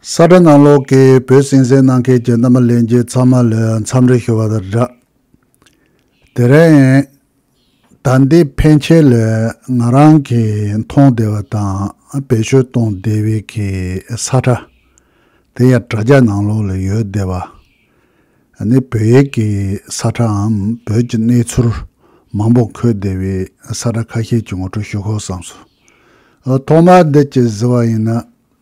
ས་སྒྲ་ནང་ལོགས་ཀྱི་བོད་སྲིད་གཟིགས་གནང་མཁན་གྱི་རྣམ་པ་ལེན་རྒྱུ་ཚང་མ་ལས་མཚམས་རེ་ཤོར་བ་དང་འདྲ། དེ་རིང། ཟླ་འདིའི་ཕན་ཆད་ལས་ང་རང་གིས་མཐོང་བདེ་བ་དང་བེད་སྤྱོད་གཏོང་བདེ་བའི་གི་ས་སྒྲ། དེ་ཡང་དྲ་རྒྱ་ནང་ལོགས་ལ་ཡོད་བསྡད་པ། ནི་བོད་ཡིག་གི་ས་སྒྲའམ་བོད་ཀྱི་གནས་ཚུལ་མང་པོ་འཁོད་བདེ་བའི་ས་སྒྲ་ཁ་ཤས་ཀྱི་ངོ་སྤྲོད་ཞུ་ཁོ་བསམ་སོང། ཐོག་མར་འདི་ཅི་ཟེར་བ་ཡིན་ན་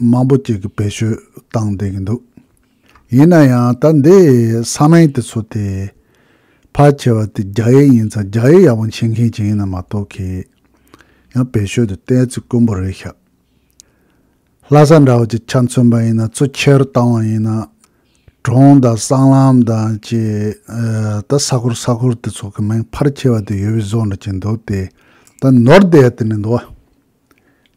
མང་པོ་ཅིག་གིས་བེད་སྤྱོད་བཏང་བསྡད་ཀྱི་འདུག་ཡིན་ན་ཡང་ད་འདི་ས་མིང་དེ་ཚོ་དེ་ཕལ་ཆེ་བ་དེ་རྒྱ་ཡིག་ཡིན་ཙང་རྒྱ་ཡིག་ཡག་པོ་མཆིས་མཁན་ཅིག་ཡིན་ན་མ་གཏོགས་ཁྱེད་ཡང་བེད་སྤྱོད་དུ་བསྟན་ཚིག་དཀོན་པོ་རེད་ཤག་ལྷ་ས་འདྲ་བོ་ཅིག་ཆ་མཚོན་པ་ཡིན་ན་ཚུ་ཁྱེར་བཏང་བ་ཡིན་ན་གྲོང་དང་སྲང་ལམ་དང་ཅི་ད་ས་ཁུར་ས་ཁུར་དེ་ཚོ་གི་མིང་ཕར་ཁྱེར་བ་དེ་ཡོད་བི་བཟོ་འདྲ་ཅིག་འདུག་དེ་ད་ནོར་བསྡད་དེ་ནས་འདུག་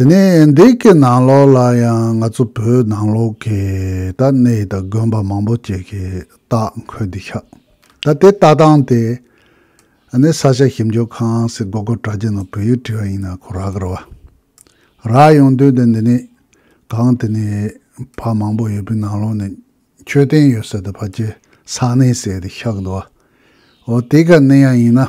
དེ་ནས་འདི་གའི་ནང་ལོགས་ལ་ཡང་ང་ཚོ་བོད་ནང་ལོགས་ཀྱི་ད་གནས་ཡིད་དང་དགོན་པ་མང་པོ་བཅས་ཀྱི་རྟགས་འཁོད་འདུག་ཤག་ད་དེ་ལྟ་སྟངས་དེ་ནི་ས་ཆ་ཞིབ་འཇུག་ཁང་སི་གོ་གོ་དྲ་རྒྱ་ནང་བོད་ཡིག་བྲིས་པ་ཡིན་ན་ཁོ་རག་གི་རེད་བ་རག་ཡོང་དོན་དེ་འདི་ནས་གང་དེ་ནས་ཕ་མང་པོ་ཡོད་པའི་ནང་ལོགས་ནས་མཆོད་རྟེན་ཡོད་ས་དེ་ཕ་སྐྱེ་ས་གནས་ཟེར་དེ་ཤག་འདུག་བ་འོ་དེ་ག་གནས་ཡང་ཡིན་ན།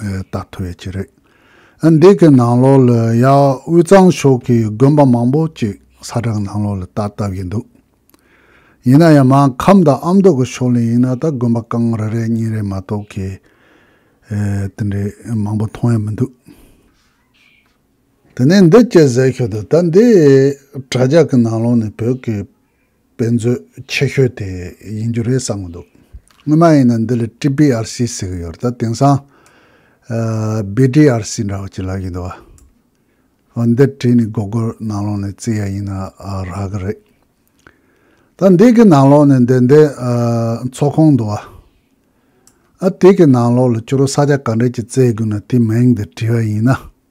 རྟགས་ཐོ་བའི་ཆེད་རེད། འདི་གི་ནང་ལོགས་ལ་ཡང་དབུས་གཙང་ཕྱོགས་ཀྱི་དགོན་པ་མང་པོ་ཅིག་ས་བསྒྲགས་ནང་ལོགས་ལ་བཏགས་བཏབ་ཡིན་འདུག་ཡིན་ན་ཡང་མང་ཁམས་དང་ཨ་མདོ་གི་ཕྱོགས་ལས་ཡིན་ན་ད་དགོན་པ་རྐང་རེ་རེ་གཉིས་རེ་མ་གཏོགས་གི་དེ་འདྲའི་མང་པོ་མཐོང་ཡ་མི་འདུག། དེ་ནས་འདི་སྐད་ཟེར་ཤོག་དུ་ད་འདི་དྲ་རྒྱ་གི་ནང་ལོགས་ནས་བོད་ཀྱི། དཔེ་མཛོད་ཆེ་ཤོས་དེ་ཡིན་རྒྱུ་རེད་བསམ་གྱི་འདུག་སྔོན་མ་ཡིན་ན་འདི་ལ TBRC ཟེར་གྱི་ཡོད་ད་དེང་སང། BDRC འདྲ་བོ་ཅིག་ལབ་ཀྱི་འདུག་ཨོ་འདི་བྲིས་ནས་གོ་གོ་ནང་ལོགས་ནས་བརྩི་ཡ་ཡིན་ན་རག་གི་རེད། ད་འདི་གི་ནང་ལོགས་ནས་འདི་འདི་ཚོགས་ཁང་འདུག་ཨ་དེ་གི་ནང་ལོགས་ལ་ཅོ་རོ་ས་ཆ་ག་འདྲ་ཅིག་བཙལ་དགོས་ན་དེ་མིང་འདི་བྲིས་པ་ཡིན་ན་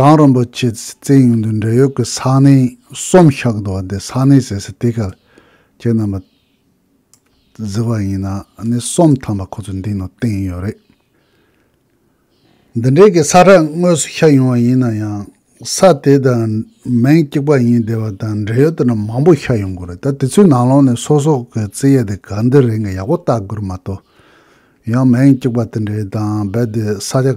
གངས་རིན་པོ་ཆེས་བཙན་ཡུལ་དུ་འབྲེལ་ཡོད་ཀྱི་ས་གནས་གསུམ་ཤག་བསྡུ་བ་དེ་ས་གནས་ཟེར་སའི་དེ་གར་ཁྱེད་རྣམ་པ་གཟིགས་པ་ཡིན་ན་ནི་གསུམ་ཐམ་པ་ཁོ་ཚོས་འདི་ནང་བསྟན་ཡོད་རེད། འདི་འདྲའི་གི་ས་ཁྲ་དངོས་སུ་ཤར་ཡོང་བ་ཡིན་ན་ཡང་ས་དེ་དང་མིང་གཅིག་པ་ཡིན་བསྡད་པ་དང་འབྲེལ་ཡོད་དེ་འདྲ་མང་པོ་ཤར་ཡོང་དགོས་རེད་ད་དེ་ཚོའི་ནང་ལོགས་ནས་སོ་སོ་གི་བརྩི་ཡས་དེ་ག་འདི་རེད་འགའ་ཡག་པོ་བལྟ་དགོས་རེད་མ་གཏོགས་ཡང་མིང་གཅིག་པ་དེ་འདྲའི་དང་རྦད་དེ་ས་ཆ་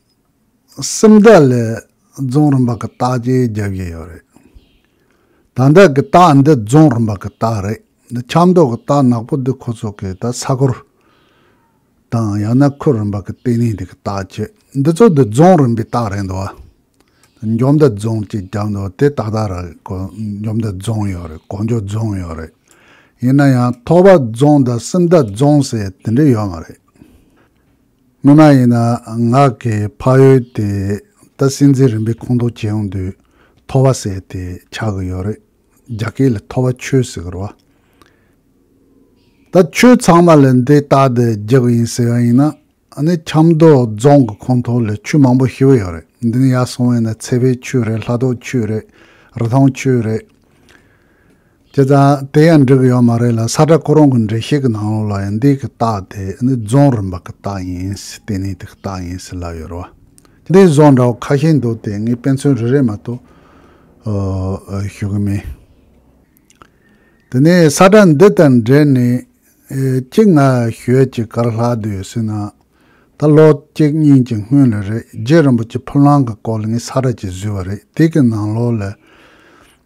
སེམས་རྟགས་ལས་རྫོང་རིམ་པ་གི་རྟགས་བརྗེ་རྒྱག་གི་ཡོད་རེད། ད་ལྟ་གི་རྟགས་འདི་རྫོང་རིམ་པ་གི་རྟགས་རེད། འདི་ཆབ་མདོ་གི་རྟགས་ནག་པོ་འདི་ཁོ་ཚོ་གིས་ད་ས་གོར་དང་ཡང་ན་ཁུལ་རིམ་པ་གི་ལྟེ་གནས་འདི་གི་རྟགས་བྱེད། འདི་ཚོ་འདི་རྫོང་རིམ་པའི་རྟགས་རེད་འདུག་བ། འཇོ་མདའ་རྫོང་ཅེས་བརྒྱབ་འདུག་དེ་ཏག་ཏག་རེད་གོ་འཇོ་མདའ་རྫོང་ཡོད་རེད་གོ་འཇོ་རྫོང་ཡོད་རེད། ཡིན་ན་ཡང་ཐོག་བར་རྫོང་དང་སེམས་རྟགས་རྫོང་ཟེར་དེ་འདྲ་ཡོད་མ་རེད། སྔོན་མ་ཡིན་ན་ངག་གི་ཕ་ཡུལ་དེ་ད་སྲིད་འཛིན་རིམ་པའི་ཁོངས་གཏོགས་བྱས་ཡོང་དུས་ཐོ་བ་ཟེར་ཏེ་ཆགས་ཀྱི་ཡོད་རེད། རྒྱ་སྐད་ལ་ཐོ་བ་ཆོས་ཟེར་རོ། ད་ཆོས་ཚང་མ་ལ་འདི་ལྟ་སྟེ་རྒྱག་ཡིན་ཟེར་བ་ཡིན་ན་ནི་ཆབ་མདོ་རྫོང་གི་ཁོངས་གཏོགས་ལ་ཆོས་མང་པོ་ཤི་བོ་ཡོད་རེད་འདི་ནི་ཡག་སོང་བས་ན་ཚལ་པའི་ཆོས་རེད་ལྷ་ཐོག་ཆོས་རེད་རི་ཐང་ཆོས་རེད། དེ་དང་དེ་ཡང་འགྲིག་གི་ཡོད་མ་རེད་ལ་ས་བཀྲ་ཁོ་རང་གི་འགྲེལ་བཤད་ཀྱི་ནང་ལོགས་ལ་ཡང་འདི་གི་རྟགས་དེ་ནི་རྫོང་རིམ་པ་གི་རྟགས་ཡིན་སྲིད་དེ་ནི་དེ་གི་རྟགས་ཡིན་སྲིད་ལབ་ཡོད་རོ། འདིའི་རྫོང་འདྲ་བོ་ཁ་ཤས་འདུག་དེ་ངས་དཔེ་མཚོན་རེ་རེ་མ་གཏོགས་ཞུ་གི་མེད། དེ་ནས་ས་བཀྲ་འདི་དང་འབྲེལ་ནས་གཅིག་ང་ཞོལ་གྱི་ཀར་ལྷག་སྡོད་ཡོད་སྲིད་ན་ད་ལོ་གཅིག་གཉིས་ཀྱི་སྔོན་ལ་རེད་རྗེ་རིན་པོ་ཆེ་ཕུ་ལང་གི་སྐོར་ལ་ངས་ས་བཀྲ་གཅིག་བཟོས་པ་རེད་དེ་གི་ནང་ལོགས་ལ་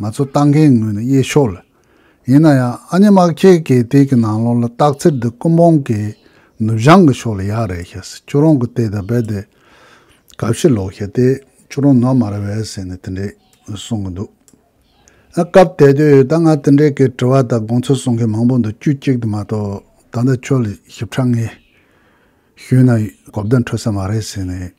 ང་ཚོ་ལྟ་མཁན་ངོས་ནས་དབྱེ་ཆོག་ལ། ཡིན་ན་ཡང་ཨ་མྱེ་དམག་ཁྱེད་ཀྱིས་དེ་གི་ནང་ལོགས་ལ་བཏགས་ཚེར་འདི་ཀུན་སྤོང་གི་ནུབ་བྱང་གི་ཕྱོགས་ལ་ཡག་རེད་ཤག་ཟེར་ཁྱོད་རང་གི་ལྟས་ད་རྦད་དེ་ག་ཕྱིར་ལོག་ཤག་དེ་ཁྱོད་རང་ནོར་མ་རེད་བས་ཟེར་ནས་དེ་འདྲས་གསུང་གི་འདུག་ཨ་སྐབས་དེ་དུས་ད་ང་དེ་འདྲས་ཀི་དྲི་བ་དང་དགོངས་ཚུལ་གསུང་མཁན་མང་པོ་འདུག་དཀྱུས་གཅིག་དུ་མ་གཏོགས་ད་ལྟ་ཁྱོད་ལ་ཞིབ་ཕྲ་ངས་ཞུས་ན་གོ་བདེ་འཕྲོད་ས་མ་རེད་ཟེར་ནས།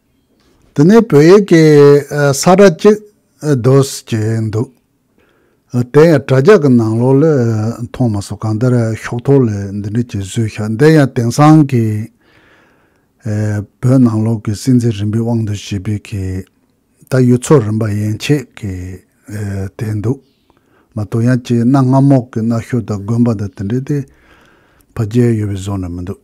དེ་ནས་བོད་ཡིག་གི་ས་བཀྲ་གཅིག་བཟློས་ཀྱི་འདུག་དེ་ཡང་དྲ་རྒྱ་གི་ནང་ལོག་ལས་མཐོང་མ་སོང་གང་ལྟར་ཤོག་ཐོག་ལས་འདི་འདྲ་གྱི་བཟོས་ཤག་འདི་ཡང་དེང་སང་གི་བོད་ནང་ལོག་གི་སྲིད་འཛིན་རིམ་པའི་དབང་དུ་བྱས་པའི་གི་ད་ཡུལ་ཚོ་རིམ་པ་ཡན་ཆད་ཀྱི་དེ་འདུག་མ་གཏོགས་ཡང་གཅིག་གནའ་སྔ་མོ་གི་གནའ་ཤུལ་དང་དགོན་པ་དང་དེ་འདྲ་དེ་ཕ་རྒྱལ་ཡོད་པའི་བཟོ་ནས་མི་འདུག།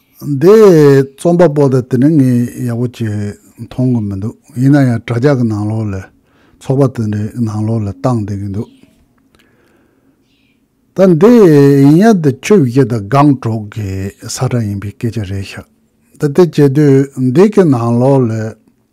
འདི་རྩོམ་པ་པོ་དང་དེ་འབྲེལ་ངས་ཡག་པོ་བྱས་མཐོང་གི་མི་འདུག་ཡིན་ན་ཡང་དྲ་རྒྱ་གི་ནང་ལོགས་ལས་ཚོགས་པ་དེ་འདྲའི་ནང་ལོགས་ལས་བཏང་བསྡད་ཀྱི་འདུག་ད་འདི་ཡིན་ཡ་འདི་ཆོས་བརྒྱད་དང་སྒང་དྲུག་གི་ས་ཁྲ་ཡིན་པའི་སྐད་ཆ་རེད་ཤག་ད་དེ་བྱེད་དུས་འདི་གི་ནང་ལོགས་ལས།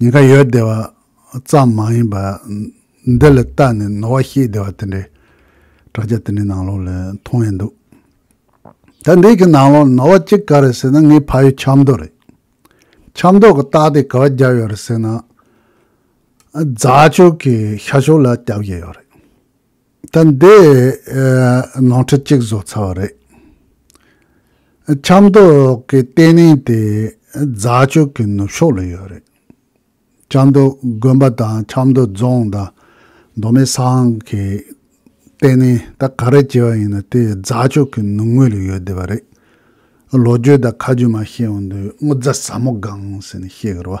ཉེན་ཁ་ཡོད་བདེ་བ་ཙམ་མ་ཡིན་པར་འདི་ལ་ལྟ་ནས་ནོར་བ་ཤེས་བདེ་བ་དེ་འདྲའི་དྲ་རྒྱ་དེ་འདྲའི་ནང་ལོགས་ལ་མཐོང་ཡས་འདུག་ད་འདི་གི་ནང་ལོགས་ལ་ནོར་བ་གཅིག་ག་རེད་ཟེར་ན་ངའི་ཕ་ཡུལ་ཆབ་མདོ་རེད། ཆབ་མདོ་གི་སྟག་དེ་ག་བ་བརྒྱབ་ཡོད་རེད་ཟེར་ན། རྫ་ཕྱོགས་ཀྱི་ཤར་ཕྱོགས་ལ་བརྒྱབ་ཡས་ཡོད་རེད། ད་འདི་ནང་ཁྲི་གཅིག་བཟོ་ཚར་བ་རེད། ཆབ་མདོ་གི་ལྟེ་གནས་དེ་རྫ་ཆུ་གི་ནུབ་ཕྱོགས་ལ་ཡོད་རེད། ཆབ་མདོ་དགོན་པ་དང་ཆབ་མདོ་རྫོང་དང་མདོ་སྨད་ས་ཨང་གི་ལྟེ་གནས་ད་ག་རེ་བྱས་པ་ཡིན་ན་དེ་རྫ་ཆུ་གི་ནུབ་ངོས་ལ་ཡོད་བསྡད་པ་རེད། ལོ་རྒྱུས་དང་ཁ་རྒྱུས་མ་ཤེས་བ་འདུག་སྔོ་རྫ་ཟབ་མོ་སྒང་ཟེར་ནས་བཤད་གི་རེད་བ།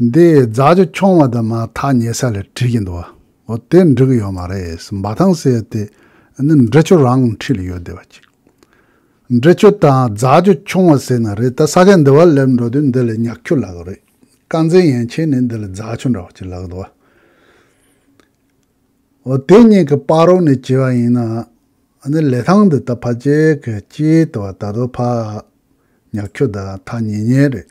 འདི་རྫ་ཆུ་མཆོང་བ་དེ་མ་ཐག་ཉེ་ས་ལས་དྲིས་ཀྱི་འདུག་ཨོ་དེ་འབྲི་གི་ཡོད་མ་རེད་འབའ་ཐང་ཟེར་དེ་ནི་འབྲི་ཆུ་རང་འཁྲིས་ལ་ཡོད་བསྡད་པ་ཅིག་འབྲི་ཆུ་དང་རྫ་ཆུ་མཆོང་བ་ཟེར་ན་རེད་ད་ས་གས་འདི་བ་སླེབས་འགྲོ་དུས་འདི་ལས་ཉག་ཁྱུ་ལག་རེད་དཀར་མཛེས་ཡན་ཆད་ནས་འདི་ལས་རྫ་ཆུ་འདྲ་བ་ཅིག་ལག་འདུག་ཨོ་དེ་གཉིས་ཀྱི་དཔའ་རོགས་ནས་བྱས་བ་ཡིན་ན་ནི་ལས་ཐང་འདི་ད་ཕ་རྗེས་ཀྱི་སྐྱིད་དུ་བ་ད་དོ་ཕ་ཉག་ཁྱུ་ད་ཐག་ཉེ་ཉེ་རེད།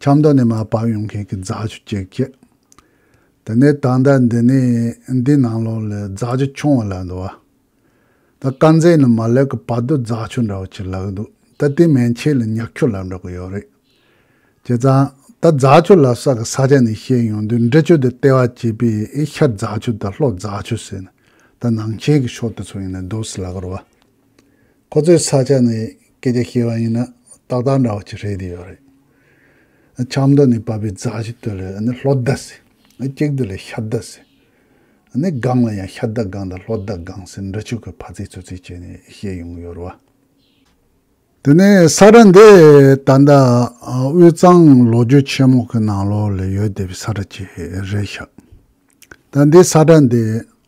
ཆབ་མདོ་ནས་མ་བབས་ཡོང་མཁན་གྱི་རྫ་ཆུ་བཅས་བསྐྱལ། དེ་ནས་ད་ལྟ་འདི་ནས་འདི་ནང་ལོགས་ལས་རྫ་ཆུ་ཆུང་བ་ལ་འདུ་བ། ད་དཀར་མཛེས་ནི་མ་ལེགས་ཀྱི་བར་དུ་རྫ་ཆུ་འདྲ་བོ་ཆེ་ལག་འདུག་ད་ལྟའི་མན་ཆད་ལ་ཉག་ཁྱུ་ལ་འགྲོ་གི་ཡོད་རེད། བྱས་ཙང་ད་རྫ་ཆུ་ལ་སོགས་ཀྱི་ས་ཆ་ནས་བཤད་ཡོང་དུས་འབྲི་ཆུ་དེ་ལྟེ་བ་བྱས་པས་ཤར་རྫ་ཆུ་དང་ལྷོ་རྫ་ཆུ་ཟེར་ནས་ད་ནང་ཆེན་གྱི་ཕྱོགས་དེ་ཚོ་ཡིན་ནི་འདུག་སྲིད་ལ་གོར་བ། ཁོ་ཚོའི་ས་ཆ་ནས་སྐད་ཆ་བཤད་པ་ཡིན་ན་ཏག་ཏག་འདྲ་བ་ཅིག་རེད་དེ་ཡོད་རེད། ཆབ་མདོ་ནས་བབས་པའི་རྫ་ཞིག་དུ་ལས་ནི་ལྷོ་རྡ་ཟེར། གཅིག་དུ་ལས་ཤར་རྡ་ཟེར། ནི་སྒང་ལ་ཡང་ཤར་རྡ་སྒང་དང་ལྷོ་རྡ་སྒང་ཟེར་འདྲ་ཆོས་ཀྱི་ཕ་ཚིག་ཚོད་ཚིག་བྱས་ནས་བཤད་ཡོང་གི་ཡོད་རེད་བ། དེ་ནས་ས་ཁྲ་འདི་ད་ལྟ་དབུས་གཙང་ལོ་རྒྱུས་ཆེན་མོ་གི་ནང་ལོགས་ལས་ཡོད་བསྡད་པའི་ས་ཁྲ་ཅིག་རེད་ཤག། ད་འདི་ས་ཁྲ་འདི་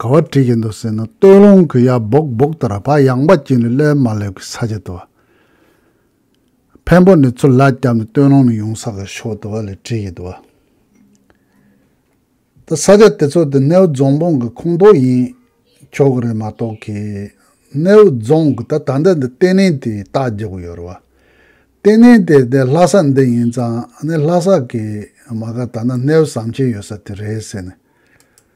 ག་བ་བྲིས་ཀྱི་འདུག་ཟེར་ན་སྟོད་ལུང་གི་ཡག་སྦུག་སྦུག་ལྟར་བག་ཡངས་པ་གྱིས་ནི་བློས་མ་བསླེབས་ཀི་ས་ཆ་དུ་བ། འཕན་པོ་ནི་ཚུར་ལག་བརྐྱབ་ནས་སྟོད་ལུང་ནས་ཡོང་ས་གི་ཕྱོགས་དུ་བ་ལས་བྲིས་ཀྱི་འདུག་བ། ད་ས་ཆ་དེ་ཚོ་དེ་སྣེའུ་རྫོང་དཔུང་གི་ཁུངས་གཏོགས་ཡིན་ཆོག་གི་རེད་མ་གཏོགས་ཀི། སྣེའུ་རྫོང་གི་ད་ད་ལྟ་འདི་ལྟེ་གནས་དེའི་རྟགས་རྒྱག་གི་ཡོད་རེད་བ། ལྟེ་གནས་དེ་དེ་ལྷ་ས་འདི་ཡིན་ཙང་ནི་ལྷ་ས་གི་མ་ག་ད་ནི་སྣེའུ་ཟམ་ཆེན་ཡོད་ས་དེ་རེད་ཟེར་ནས།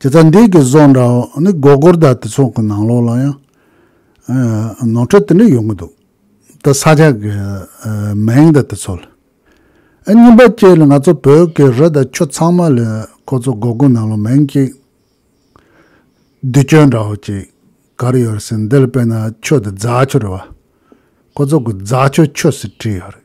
དེ་ལྟར་འདས་ཀྱི་བཟོ་འདྲ་བོ་ནི་སྒོར་སྒོར་དག་དེ་ཚོ་གི་ནང་ལོགས་ལ་ཡང་ནོར་འཁྲུལ་དེ་འདྲ་ཡོང་གི་འདུག་ད་ས་ཆ་གི་མིང་དང་དེ་ཚོ་ལ་ཨ་གཉིས་པ་བཅས་ལ་ང་ཚོ་བོད་ཀྱི་རི་དང་ཆུ་ཚང་མ་ལ་ཁོ་ཚོ་སྒོར་སྒོར་ནང་ལོགས་མིང་གཅིག་བསྡུས་སྤྱོད་འདྲ་བོ་ཅིག་ག་རེ་ཡོད་རེད་ཟེར་འདི་ལ་དཔེར་ན་ཆོས་དང་རྫ་ཆུ་རེད་བ་ཁོ་ཚོ་གི་རྫ་ཆུ་ཆོས་སུ་བྲིས་ཡོད་རེད།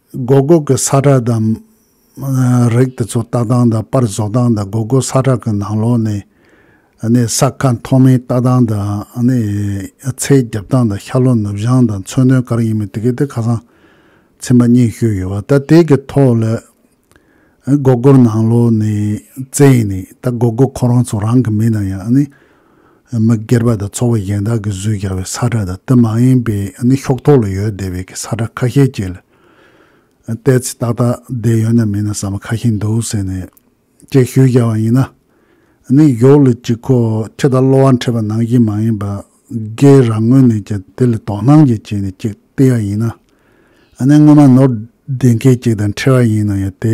སྒོ་སྒོ་གི་ས་ཁྲ་དང། རེག་དེ་ཚོ་ལྟ་སྟངས་དང་པར་བཟོ་སྟངས་དང་སྒོ་སྒོ་ས་ཁྲ་གི་ནང་ལོགས་ནས་ནས་ས་ཁ་མཐོ་མིན་ལྟ་སྟངས་དང། ཚད་རྒྱབ་སྟངས་དང་ཤར་ལྷོ་ནུབ་བྱང་དང་མཚོན་དོན་ག་རེ་ཡིན་མིན་དེ་གའི་དེ་ཁ་སང་ཚན་པ་གཉིས་ཞུས་ཡོད་བ་ད་དེ་གི་ཐོག་ལ་སྒོ་སྒོར་ནང་ལོགས་ནས་བཙལ་ནས་ད་སྒོ་སྒོ་ཁོ་རང་ཚོ་རང་གི་མིན་ན་ཡང་མི་སྒེར་པ་དང་ཚོགས་པ་གཞན་དག་གིས་བཟོས་རྒྱག་པའི་ས་ཁྲ་དང་དེ་མ་ཡིན་པའི་ནི་ཤོག་ཐོག་ལ་ཡོད་བསྡད་པའི་གི་ས་ཁྲ་ཁ་ཤས་བཅས་ལ་བལྟས་ཚེ་ཏག་ཏག་བསྡད་ཡོད་ན་མིན་ན་ཟ་མ་ཁ་ཤས་འདུག་ཟེར་ནས་དཔྱད་ཞུ་བཞག་པ་ཡིན་ན་ནི་གཞོགས་ལ་གཅིག་ཁོ་ཁྱི་དང་གློ་བ་འཕྲད་པ་ནང་བཞིན་མ་ཡིན་པ་སྒེར་རང་ངོས་ནས་ཀྱང་དེ་ལ་དོ་སྣང་གིས་བྱས་ནས་ཅིག་བལྟས་ཡ་ཡིན་ན་ནི་སྔོན་མ་ནོར་བདེན་མཁན་གཅིག་དང་འཕྲད་པ་ཡིན་ན་ཡང་དེ